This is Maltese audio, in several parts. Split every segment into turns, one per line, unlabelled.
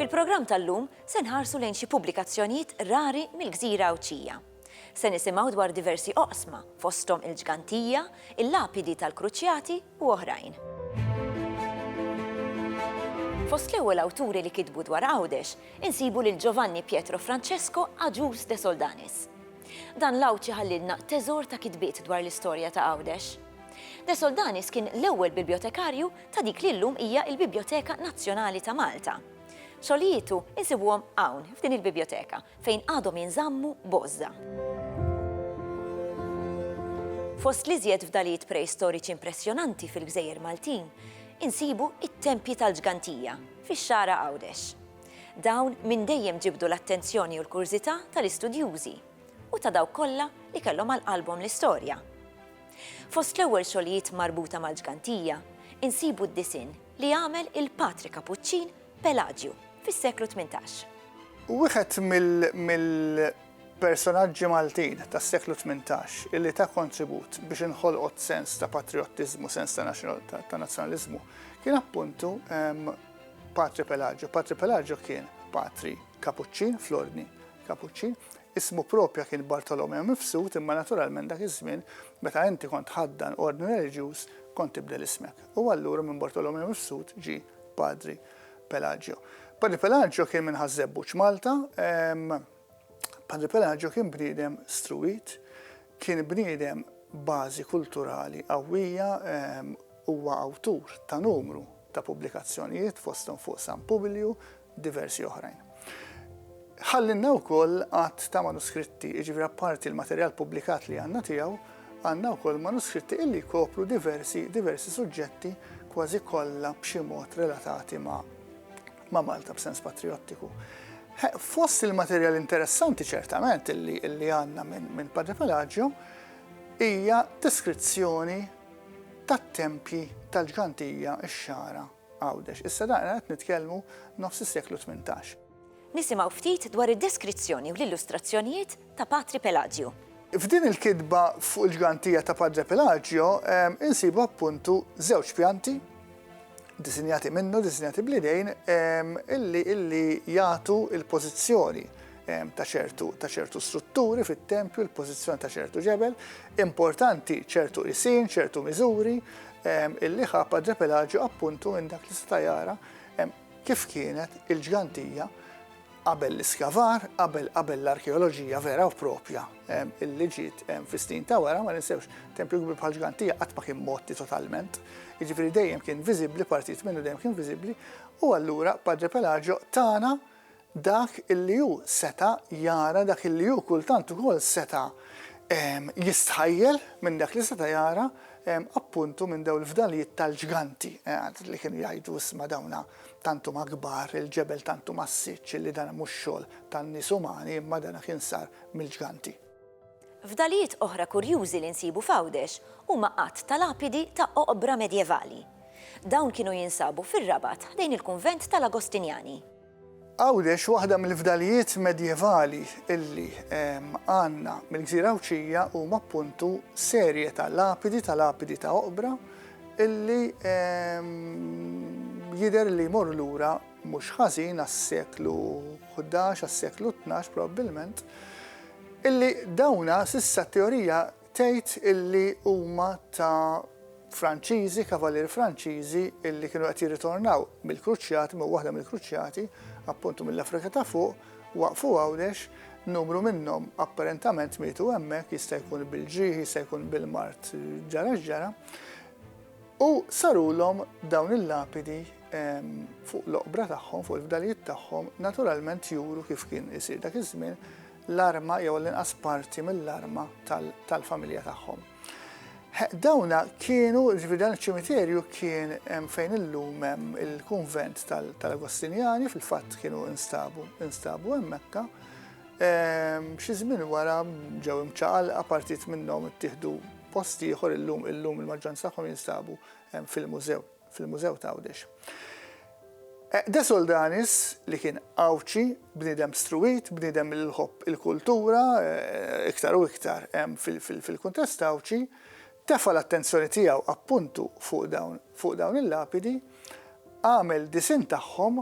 Fil-programm tal-lum se nħarsu lejn xi pubblikazzjonijiet rari mill-Gżira Għawdxija. Se nisimgħu dwar diversi oqsma fosthom il-ġgantija, il-lapidi tal-kruċjati u oħrajn. Fost l-ewwel awturi li kitbu dwar Għawdex insibu lil Giovanni Pietro Francesco Agius de Soldanis. Dan l-Għawdxi ħallilna teżor ta' kitbiet dwar l-istorja ta' Għawdex. De Soldanis kien l-ewwel bibjotekarju ta' dik li llum hija l-Bibjoteka Nazzjonali ta' Malta. Xogħlijietu insibuhom hawn, f'din il-bibjoteka, fejn għadhom jinżammu b'għożża. Fost l-iżjed fdalijiet preistoriċi impressjonanti fil-gżejjer Maltin, insibu t-tempji tal-ġgantija, fix-Xagħra Għawdex. Dawn minn dejjem ġibdu l-attenzjoni u l-kurżità tal-istudjużi u ta' dawk kollha li kellhom għal qalbhom l-istorja. Fost l-ewwel xogħlijiet marbuta mal-ġgantija insibu d-disinn li għamel il-Patri Kapuċċin Pelaġju fis-seklu tmintax. Wieħed
Personaġġi Maltin tas-seklu tmintax illi ta kontribut biex inħolqot sens ta' patriottiżmu, sens ta' ta' nazzjonaliżmu, kien appuntu Patri Pelaġo. Patri Pelaġo kien patri Kapuċċin fl-Ordni Kapuċċin, ismu propja kien Bartolomeo Mifsud imma naturalment dak iż-żmien meta inti kont ħaddan ordni reliġjuż kont tibdel ismek. U allura minn Bartolomeo Mifsud ġi Padri Pelaġio. Padri Pelaġio kien minn Ħaż-Żebbuġ Malta, Padre Pelagio kien bniedem struwit, kien bniedem bażi kulturali qawwija, ehm, huwa awtur ta' numru ta' pubblikazzjonijiet fosthom fuq San Publiju, diversi oħrajn. Ħallinna wkoll għadd ta' manuskritti, jiġifieri apparti l-materjal pubblikat li għandna tiegħu, għandna wkoll manuskritti illi jkopru diversi diversi suġġetti kważi kollha b'xi mod relatati ma' ma' Malta b'sens patrijottiku. Fost il-materjal interessanti ċertament illi għandna minn Padre Pelagio hija deskrizzjoni tat-tempji tal-ġgantija x-xagħra Għawdex. Issa dan qed nitkellmu nofs is-seklu 18. Nisimgħu ftit
dwar id-deskrizzjoni u l-illustrazzjonijiet ta' Patri Pelaġju. F'din il-kitba
fuq il-ġgantija ta' Padre Pelaġjo insibu appuntu żewġ pjanti disinjati minnu, disinjati bl-idejn, illi jagħtu il-pożizzjoni ta' ċertu ta' ċertu strutturi fit-tempju, il-pożizzjoni ta' ċertu ġebel, importanti ċertu isin, ċertu miżuri, illi ħa Padre Pelaġju appuntu minn dak li sta jara kif kienet il-ġgantija Qabel l-iskavar, qabel qabel l-arkeoloġija vera u propja illi ġiet fistin ta' wara, ma ninsewx tempju kbir bħal ġgantija qatt ma kien motti totalment. Jiġifieri dejjem kien viżibbli, partijiet minnu dejjem kien viżibbli, u allura Padre Pelagio tana dak illi hu seta' jara, dak illi hu kultant ukoll seta' jistħajjel minn dak li seta' jara appuntu minn dawn il-fdalijiet tal-ġganti li kienu jgħidu isma' dawna Tant huma kbar, il-ġebel tant hu massiċċ li dan mhux xogħol tan-nies umani imma dan kien sar mill-ġganti. Fdalijiet
oħra kurjużi li nsibu f'Għawdex huma għadd ta' lapidi ta' oqbra medjevali. Dawn kienu jinsabu fir-Rabat ħdejn il-kunvent tal-Agostinjani. Għawdex,
waħda mill-fdalijiet medjevali li għandna mill-Gżira Għawdxija huma appuntu serje ta' lapidi ta' lapidi ta' oqbra li jidher li jmorru lura mhux ħażin għas-seklu ħdax, għas-seklu tnax probabbilment, illi dawna s'issa t-teorija Tgħid illi huma ta' Franċiżi, kavalieri Franċiżi illi kienu qed jirritornaw mill-kruċjati, minn waħda mill-kruċjati, appuntu mill-Afrika ta' fuq, waqfu Għawdex, numru minnhom apparentament mietu hemmhekk, jista' jkun bil-ġrieħi, jista' jkun bil-mard ġara x'ġara, u sarulhom dawn il-lapidi ehm, fuq l-oqbra tagħhom, fuq il-fdalijiet tagħhom, naturalment juru kif kien isir dak iż-żmien, l-arma jew għall-inqas parti mill-arma tal-familja tagħhom. Dawna kienu, ġifieri dan iċ-ċimiterju kien fejn illum hemm il-kunvent tal-Agostinjani fil-fatt kienu instabu, instabu hemmhekk. Ehm, xi żmien wara ġew imċaqal partit minnhom ittieħdu post ieħor illum illum il-maġġoranza tagħhom jinstabu ehm, fil-mużew. fil-Mużew t'Għawdex. Għeqdes Oldanis, li kien Għawdxi, bniedem struwit, bniedem li jħobb il-kultura, iktar u iktar fil-kuntest Għawdxi, tefa' l-attenzjoni tiegħu appuntu fuq dawn il-lapidi, għamel disinn tagħhom,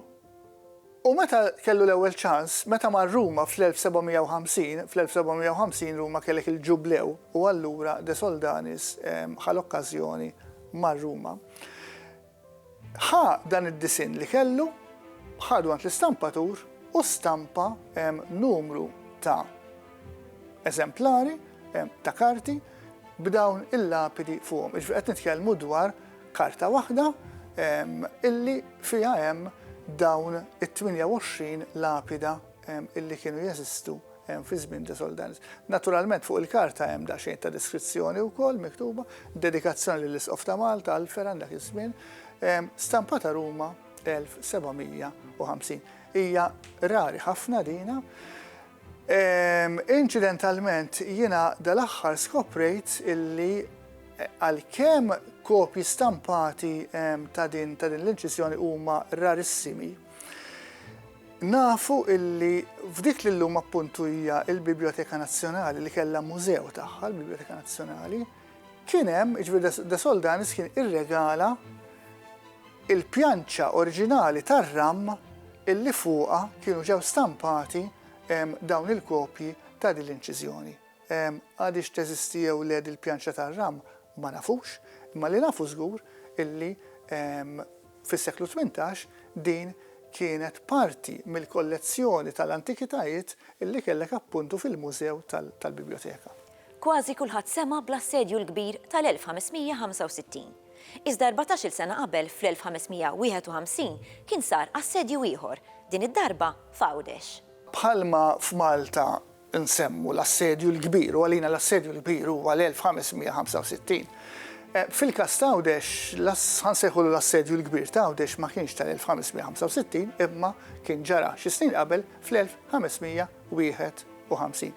U meta kellu l-ewwel ċans, meta mar Ruma fl-1750, fl-1750 Ruma kellek il-Ġublew u allura De Soldanis ħa l-okkażjoni, mar Ruma, ħa dan id-disinn li kellu, ħadu għand l-istampatur u stampa numru ta' eżemplari ta' karti b'dawn il-lapidi fuqhom. Jiġifieri qed nitkellmu dwar Karta waħda illi fiha hemm dawn it-28 lapida illi kienu jeżistu fi żmien De Soldanis. Naturalment fuq il-karta hemm daqsxejn ta' deskrizzjoni wkoll miktuba, dedikazzjoni lill-Isqof ta' Malta għal Fergħan dak iż-żmien, stampata Ruma 1750. Hija rari ħafna dina. Inċidentalment jiena dal-aħħar skoprejt illi Għalkemm kopji stampati ta' din l-inċiżjoni huma rarissimi, nafu illi f'dik li llum appuntu hija l-Bibljoteka Nazzjonali li kellha mużew tagħha, l-Bibljoteka Nazzjonali, kien hemm, jiġifieri De Soldanis kien irregala il-pjanċa oriġinali tar-ram illi fuqha kienu ġew stampati dawn il-kopji ta' din l-inċiżjoni. Għadiex teżisti jew le dil-pjanċa tar-ram ma nafux, imma li nafu żgur illi fis-seklu tmintax din kienet parti mill-kollezzjoni tal-antikitajiet illi kellek appuntu fil-mużew tal-bibljoteka. Kważi
kulħadd sema' bl-Assedju l-Kbir tal-1565. Iżda erbatax-il sena qabel fl-1551 kien sar assedju ieħor, din id-darba f'Għawdex. Bħalma
f'Malta nsemmu l-Assedju l-Kbir, u għalina l-Assedju l-Kbir huwa l-1565. Fil-każ t'Għawdex, ħa nsejħulu l-Assedju l-Kbir t'Għawdex ma kienx tal-1565 imma kien ġara xi snin qabel fl-1551.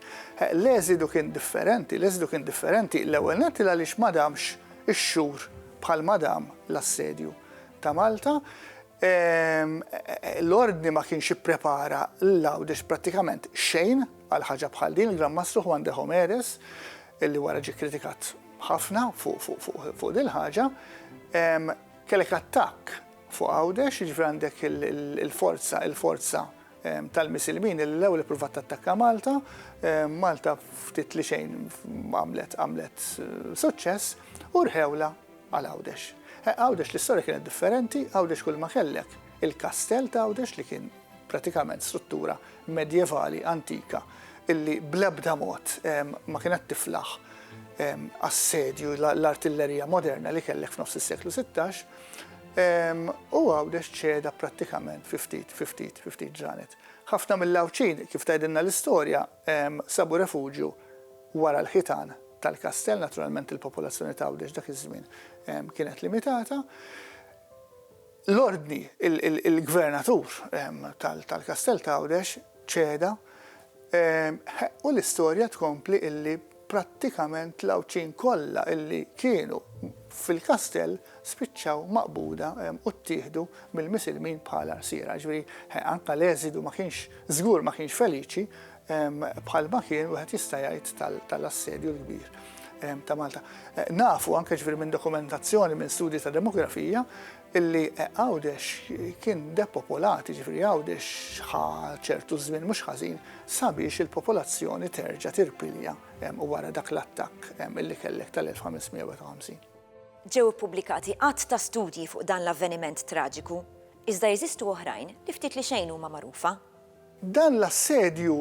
L-eżidu kien differenti, l-eżidu kien differenti l-ewwel nett il-għaliex ma damx ix-xhur bħal ma dam l-Assedju ta' Malta, L-Ordni ma kienx ipprepara l-Laudes prattikament xejn għal ħaġa bħal din. Il-Gran Mastru Juan de Homeres, li wara ġie kkritikat ħafna fuq dil-ħaġa, kellek attakk fuq Għawdex, jiġifieri għandek il-forza, il-forza tal-Misilmin li l-ewwel ippruvat tattakka Malta, Malta ftit li xejn għamlet suċċess u rħewlha. Għal Għawdex. Għawdex l-istorja kienet differenti, Għawdex kull ma kellek il-kastell ta' Għawdex li kien pratikament struttura medjevali antika illi bl-ebda mod ma kienet tiflaħ assedju l-artillerija moderna li kellek f'nofs is-seklu 16 u Għawdex ċeda prattikament fi ftit, fi ftit, fi ftit ġranet. Ħafna mill-Għawdxin, kif tgħidilna l-istorja, sabu refuġju wara l-ħitan tal-kastell, naturalment il-popolazzjoni ta' Għawdex dak iż-żmien kienet limitata. L-ordni, il-gvernatur tal-kastell ta' Għawdex ċeda u l-istorja tkompli illi Prattikament l-Għawdxin kollha li kienu fil-kastell spiċċaw maqbuda u ttieħdu mill-Misilmin bħala rsiera. Jiġifieri, anke l-eżidu ma kienx, żgur ma kienx feliċi bħalma kien, wieħed jista' jgħid, tal-Assedju l-Kbir ta' Malta. Nafu anke, jiġifieri minn dokumentazzjoni, minn studji ta' demografija, illi Għawdex kien depopolat, jiġifieri Għawdex ħa ċertu żmien mhux ħażin sabiex il-popolazzjoni terġa' tirpilja wara dak l-attakk illi kellek tal-1551. Ġew
ippubblikati għadd ta' studji fuq dan l-avveniment traġiku, iżda jeżistu oħrajn li ftit li xejn huma magħrufa. Dan
l-assedju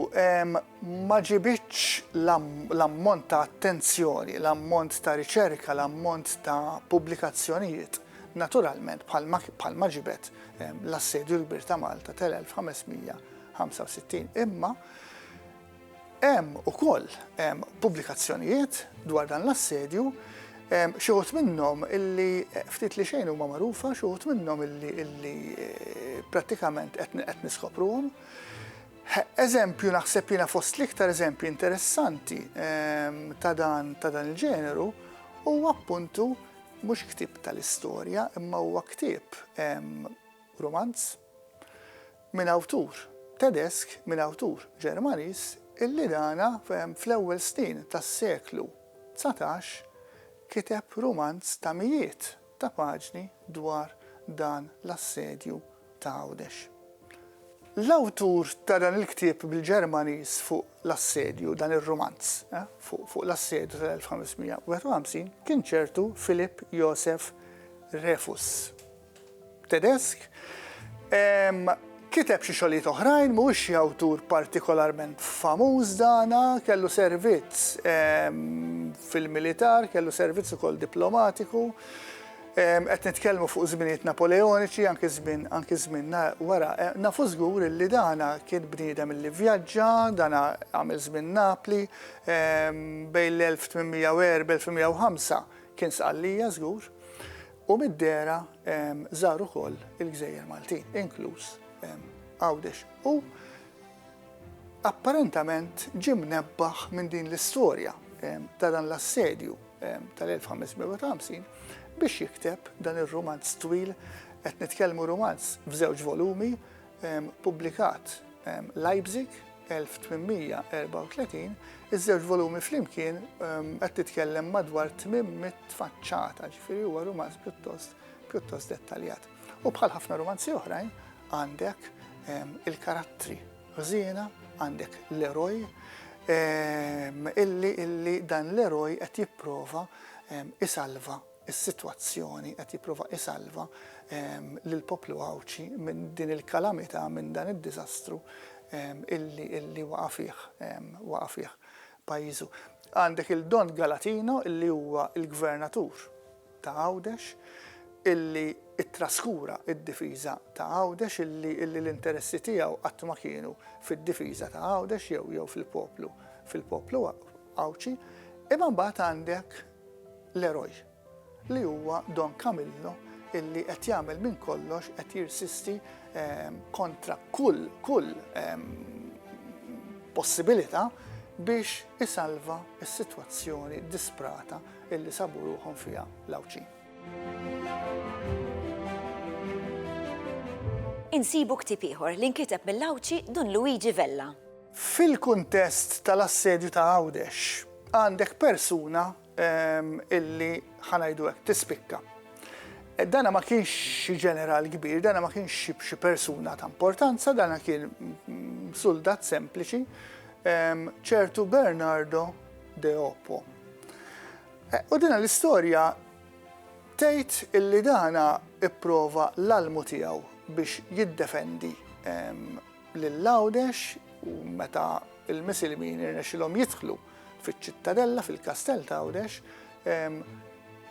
ma ġibidx l-ammont ta' attenzjoni, l-ammont ta' riċerka, l-ammont ta' pubblikazzjonijiet, naturalment, bħalma ġibed l-assedju l-kbir ta' Malta tal-1565, imma, Hemm ukoll pubblikazzjonijiet dwar dan l-assedju, xi wħud minnhom illi ftit li xejn huma magħrufa, xi wħud minnhom illi prattikament qed niskopruhom. Eżempju naħseb jiena fost l-iktar eżempji interessanti ta' dan ta' dan il-ġeneru huwa appuntu mhux ktieb tal-istorja imma huwa ktieb rumanz minn awtur Tedesk, minn awtur Ġermaniż, illi dana fl-ewwel snin tas-seklu dsatax kiteb rumanz ta' mijiet ta' paġni dwar dan l-assedju ta' Għawdex. L-awtur ta' dan il-ktieb bil-Ġermaniż fuq l-assedju, dan ir-rumanz fuq l-assedju tal-1551, kien ċertu Philipp Joseph Refus. Tedesk. Kiteb xi xogħlijiet oħrajn, mhuwiex xi awtur partikolarment famuż dan, kellu servizz fil-militar, kellu servizz ukoll diplomatiku. Qed nitkellmu fuq żminijiet Napoleoniċi, anki żmien anki żmien wara. Nafu żgur li dan kien bniedem li vvjaġġa, dan għamel żmien Napli, bejn l-1804, 1805 kien Sqallija żgur. U mid-dehra żar ukoll il-gżejjer Maltin, inkluż Għawdex. U apparentament ġie mnebbaħ minn din l-istorja ta' dan l-assedju tal-1550 biex jikteb dan ir-rumanz twil, qed nitkellmu rumanz f'żewġ volumi, Ppubblikat Leipzig, 1834, iż-żewġ volumi flimkien qed titkellem madwar 800 faċċata, ġifieri huwa rumanz pjuttost pjuttost dettaljat. U bħal ħafna rumanzi oħrajn għandek il-karattri ħżiena, għandek l-eroj, illi illi dan l-eroj qed jipprova isalva is-sitwazzjoni qed jipprova isalva lill-poplu Għawdxi minn din il-kalamità, minn dan id-diżastru illi illi waqa' fih waqa' fih pajjiżu. Għandek il Don Galatino illi huwa l-Gvernatur ta' Għawdex illi ttraskura d-difiża ta' Għawdex illi illi l-interessi tiegħu qatt ma kienu fid-difiża ta' Għawdex jew jew fil-poplu fil-poplu Għawdxi. Imma mbagħad għandek Leroy, li huwa Don Camillo illi qed jagħmel minn kollox qed jirsisti kontra kull kull possibilità biex isalva s-sitwazzjoni disprata illi sabu ruħhom fiha l-Għawdxin.
Insibu ktieb ieħor li nkiteb mill-Għawdxi Dun Luigi Vella. Fil-kuntest tal-assedju ta'
Għawdex, għandek persuna illi, ħa ngħidu hekk, tispikka. Dana ma kienx xi ġeneral kbir, dana ma kienx xi persuna ta' importanza, dana kien suldat sempliċi, ċertu Bernardo de Oppo. E, u dina l-istorja tgħid illi dana ipprova l-almu tiegħu biex jiddefendi lil Għawdex u meta l-Misilmin irnexxielhom jidħlu fiċ-Ċittadella, fil-Kastell ta' Għawdex,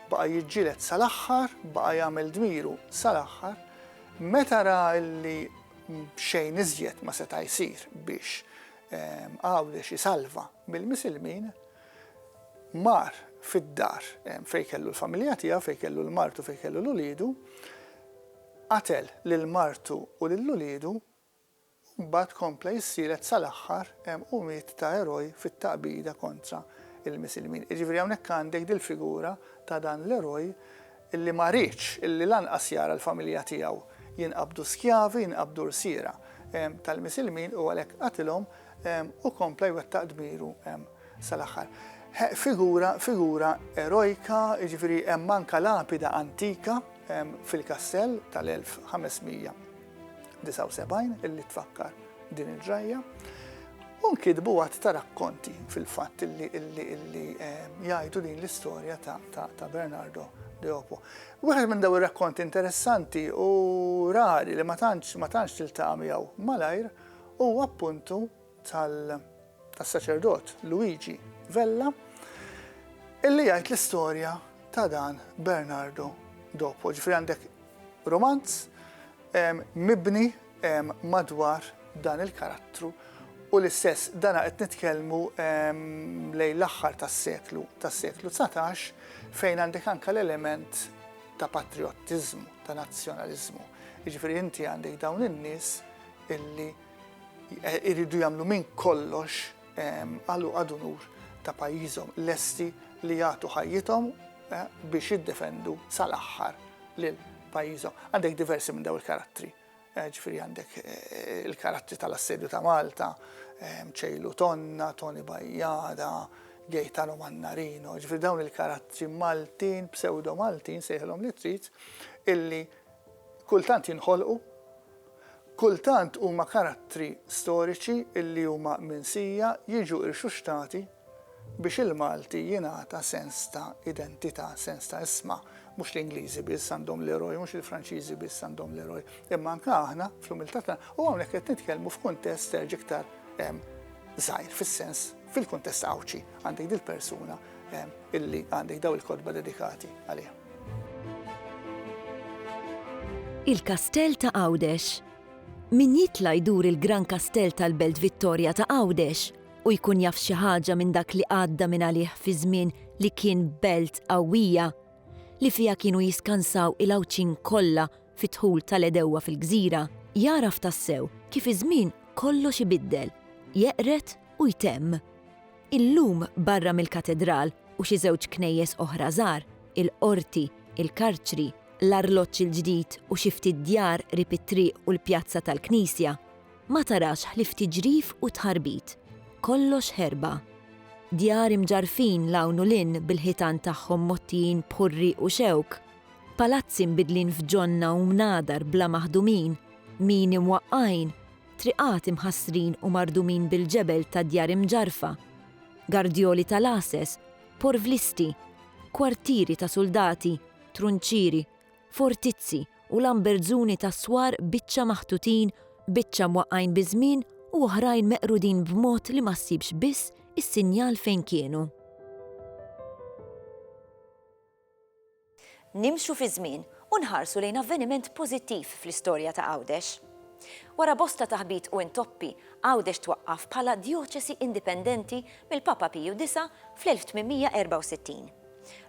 baqa' jiġġieled sal-aħħar, baqa' jagħmel dmiru sal-aħħar. Meta ra li xejn iżjed ma seta' jsir biex Għawdex isalva mill-Misilmin, mar fid-dar fejn kellu l-familja tiegħu, fejn kellu l-martu, fejn kellu l-uliedu, Qatel lil martu u lil uliedu u mbagħad kompla jissielet sal-aħħar hemm u miet ta' eroj fit-taqbida kontra l-Misilmin. Jiġifieri hawnhekk għandek dil-figura ta' dan l-eroj li ma riedx li lanqas jara l-familja tiegħu jinqabdu skjavi, jinqabdu rsiera tal-Misilmin u għalhekk qatilhom u kompla jwettaq dmiru sal-aħħar. Figura, figura erojka, jiġifieri hemm anke lapida antika fil-kastell tal-1579 illi tfakkar din il-ġrajja. U nkitbu għadd ta' rakkonti fil-fatt illi illi jgħidu din l-istorja ta' Bernardo Deopo. Wieħed minn daw ir-rakkonti interessanti u rari li ma tantx ma tantx tiltaqa' miegħu malajr huwa appuntu tas-saċerdot Luigi Vella illi jgħid l-istorja ta' dan Bernardo Dopo. Ġifieri għandek romanz mibni madwar dan il-karattru u l-istess dana qed nitkellmu lejn l-aħħar tas-seklu tas-seklu 19 fejn għandek anke l-element ta' patriottiżmu, ta' nazzjonaliżmu. Jiġifieri inti għandek dawn in-nies illi Iridu jagħmlu minn kollox għal u ad unur ta' pajjiżhom, lesti li jagħtu ħajjithom biex jiddefendu sal-aħħar lil pajjiżhom. Għandek diversi minn daw il-karattri, ġifieri għandek il-karattri tal-Assedju ta' Malta, Ċejlu Tonna, Toni Bajjada, Gaetano Mannarino, ġifieri dawn il-karattri Maltin, pseudo-Maltin, sejħilhom li trid, illi Kultant jinħolqu, kultant huma karattri storiċi li huma minsija jiġu irxuxtati biex il-Malti jingħata sens ta' identità, sens ta' isma. Mhux l-Ingliżi biss għandhom l-eroj, mhux il-Franċiżi biss għandhom l-eroj, imma anke aħna fl-umiltà tagħna, u hawnhekk qed nitkellmu f'kuntest terġa' iktar żgħir fis-sens, fil-kuntest Għawdxi, għandek dil-persuna illi għandek dawn il-kotba dedikati għaliha.
Il-Kastell ta' Għawdex Min jitla' jdur il-Gran Kastell tal-Belt Vittorja ta' Għawdex u jkun jaf xi ħaġa minn dak li għadda minn għalih fi żmien li kien belt qawwija li fiha kienu jiskansaw il-Għawdxin kollha fid-dħul tal-għedewwa fil-gżira, jagħraf tassew kif iż-żmien kollox ibiddel, jeqred u jtemm. Illum barra mill-Katedral u xi żewġ knejjes oħra żgħar, il-Qorti, il-Karċri, l-Arloġġ il-Ġdid u xi ftit djar qrib it-triq u l-pjazza tal-Knisja, ma tarax ħlief tiġrif u tħarbit. Kollox ħerba. Djar imġarrfin 'l hawn u 'l hinn bil-ħitan tagħhom mgħottijin b'ħurri u xewk, palazzi mbidlin f'ġonna u mnadar bla maħdumin, mini mwaqqgħin, triqat imħassrin u mardumin bil-ġebel ta' djar imġarrfa, gardjoli ta' lases, porvlisti, kwartieri ta' suldati, trunċieri, fortizzi u lambertzuni ta' swar biċċa maħtutin, biċċa mwaqqgħin biż-żmien u oħrajn meqrudin b'mod li ma ssibx biss is-sinjal fejn kienu. Nimxu fiż-żmien u nħarsu lejn avveniment pożittiv fl-istorja ta' Għawdex. Wara bosta taħbit u intoppi, Għawdex twaqqaf bħala djoċesi indipendenti mill-Papa Piju Disa' fl-1864.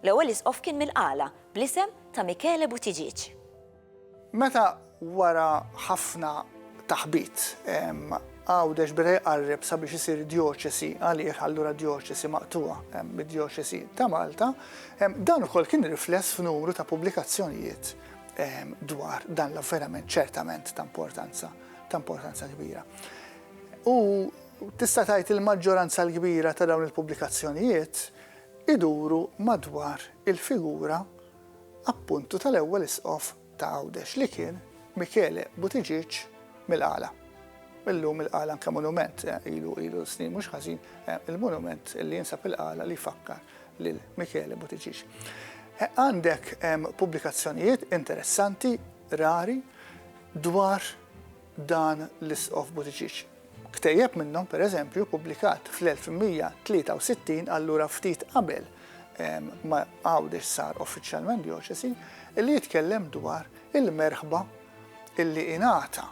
L-ewwel isqof kien mill-Qala, bl-isem ta' Michele Buttigieg. Meta
wara ħafna taħbit Għawdex beda jqarreb sabiex isir djoċesi għalih allura djoċesi maqtugħa mid-Djoċesi ta' Malta, dan ukoll kien rifless f'numru ta' pubblikazzjonijiet dwar dan l-avverament ċertament ta' importanza ta' importanza kbira. U tista' tgħid il-maġġoranza l-kbira ta' dawn il-pubblikazzjonijiet iduru madwar il-figura appuntu tal-ewwel Isqof ta' Għawdex li kien Michele Buttigieg mill-Qala. Illum il-Qala anke monument, ilu ilu snin mhux ħażin il-monument li jinsab il-Qala li jfakkar lil Michele Buttigieg. Għandek pubblikazzjonijiet interessanti, rari, dwar dan l-Isqof Buttigieg. Ktejjeb minnhom, pereżempju, ppubblikat fl-1163, allura ftit qabel ma Għawdex sar uffiċjalment djoċesi, li jitkellem dwar il-merħba li ingħata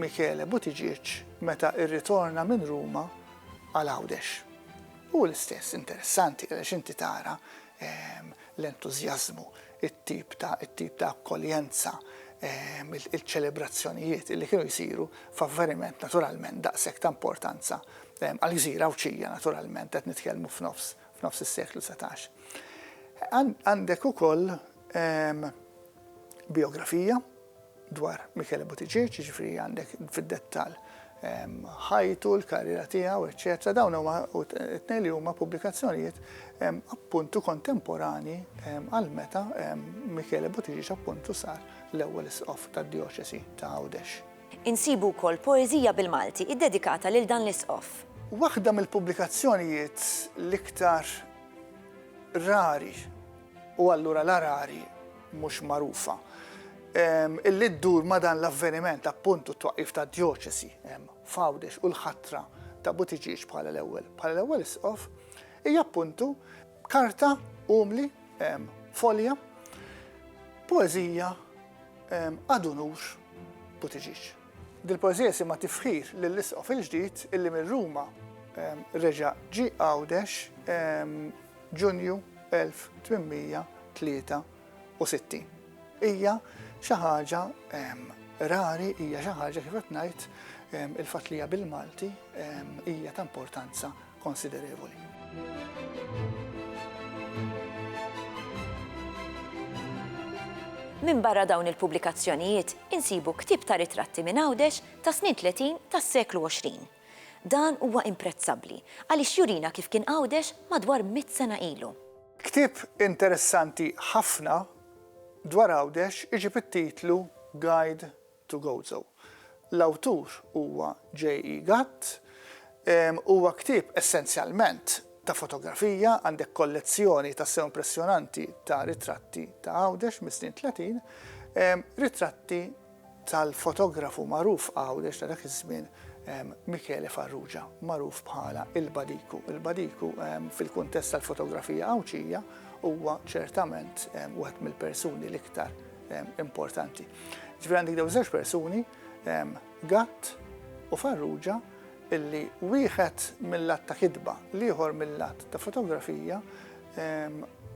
Michele Buttigieg meta rritorna minn Ruma għal Għawdex. Hu l-istess, interessanti, għaliex inti tara l-entużjażmu, it-tip ta' it-tip ta' akkoljenza, il-ċelebrazzjonijiet li kienu jsiru f'avveniment naturalment daqshekk ta' importanza għal gżira Għawdxija naturalment qed nitkellmu f'nofs f'nofs is-seklu setax. Għandek ukoll bijografija dwar Michele Buttigieg, jiġifieri għandek fid-dettall ħajtu, l-karriera tiegħu, eċċetera Dawn huma t-tnejn li huma pubblikazzjonijiet appuntu kontemporanji għal meta Michele Buttigieg appuntu sar l-ewwel Isqof tad-Djoċesi ta' Għawdex. Insibu wkoll
poeżija bil-Malti ddedikata lil dan l-Isqof. Waħda
mill-pubblikazzjonijiet l-iktar rari, u allura l-arari, mhux magħrufa, illi ddur ma' dan l-avveniment appuntu t-twaqqif tad-djoċesi f'Għawdex u l-ħatra ta' Buttigieg bħala l-ewwel bħala l-ewwel isqof, hija appuntu karta umli, folja, poeżija ad unur Buttigieg. Dil-poeżija jisimha Tifħir lill-Isqof il-ġdid illi minn Ruma reġa' ġie Għawdex Ġunju 1863. Hija xi ħaġa rari, hija xi ħaġa kif qed ngħid il-fatt li hija bil-Malti hija ta' importanza konsiderevoli.
Minbarra dawn il-pubblikazzjonijiet insibu ktieb ta' ritratti minn Għawdex tas-snin tletin tas-seklu għoxrin. Dan huwa imprezzabbli għaliex jurina kif kien Għawdex madwar mitt sena ilu. Ktieb
interessanti ħafna dwar Għawdex iġib it-titlu Guide to Gozo. L-awtur huwa JE Gatt. Huwa ktieb essenzjalment ta' fotografija, għandek kollezzjoni tassew impressjonanti ta' ritratti ta' Għawdex mis-snin tletin, ritratti tal-fotografu magħruf Għawdex ta' dak iż-żmien Michele Farrugia, magħruf bħala il-Badiku. Il-Badiku fil-kuntest tal-fotografija Għawdxija huwa ċertament wieħed mill-persuni l-iktar importanti. Ġifieri għandek dawn żewġ persuni, Gatt u Farrugia, illi wieħed mill-lat ta' kitba, l-ieħor mill-lat ta' fotografija,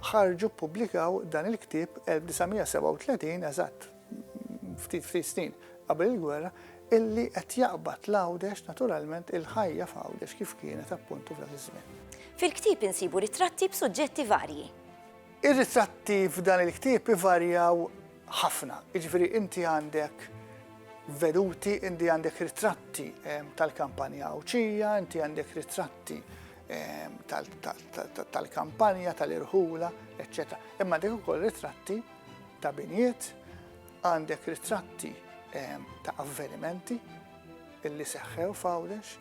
ħarġu ppubblikaw dan il-ktieb 1937 eżatt. ftit ftit snin qabel il-gwerra, illi qed jaqbad l-Għawdex naturalment il-ħajja f'Għawdex kif kienet appuntu f'dak iż-żmien. Fil-ktieb insibu
ritratti b'suġġetti varji. Ir-ritratti
f'dan il-ktieb ivarjaw ħafna, jiġifieri inti għandek veduti, inti għandek ritratti ehm, tal-kampanja Għawdxija, inti għandek ritratti Ehm, tal-kampanja, tal-irħula, etc. Imma dik ukoll ritratti ta' binjiet, għandek ritratti ta' avvenimenti illi seħħew f'Għawdex,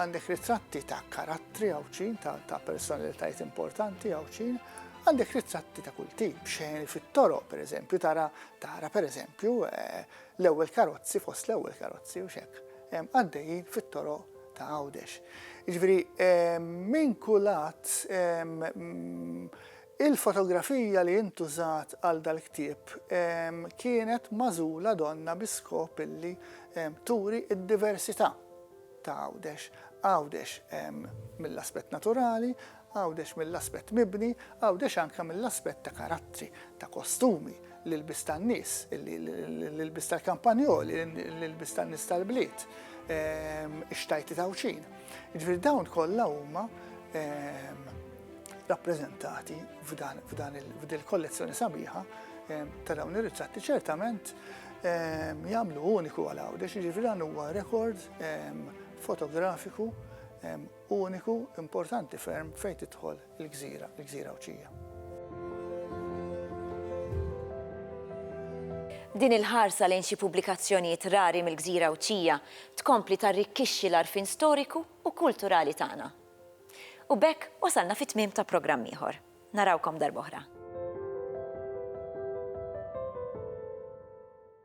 għandek ritratti ta' karattri għawċin, ta' personalitajiet importanti għawċin, għandek ritratti ta' kull tip, xejn fit-toro, per eżempju, tara, tara per eżempju, eh, l-ewwel karozzi fost l-ewwel karozzi u xek, għaddejjin fit-toro ta' Għawdex. Ġifieri minn kulat Il-fotografija li intużat għal dal-ktieb kienet magħżula donnha bi skop li turi d-diversità ta' Għawdex, Għawdex mill-aspett naturali, Għawdex mill-aspett mibni, Għawdex anke mill-aspett ta' karattri, ta' kostumi. l-ilbies tan-nies, l-ilbies tal-kampanjoli, l-ilbies tan-nies tal-bliet, ehm, ix-xtajti tawċin. Ġifieri dawn kollha huma ehm, rappreżentati f'dan il-kollezzjoni sabiħa ehm, ta' dawn ir-ritratti ċertament jagħmlu uniku għal għawdex, ġifieri dan huwa rekord fotografiku uniku importanti ferm fejn tidħol Il-gżira, il-gżira Għawdxija.
Din il-ħarsa lejn xi pubblikazzjonijiet rari mill-gżira Għawdxija tkompli tarrikkixxi l-għarfien storiku u kulturali tagħna. U b'hekk wasalna fit-tmiem ta' programm ieħor. Narawkom darb'oħra.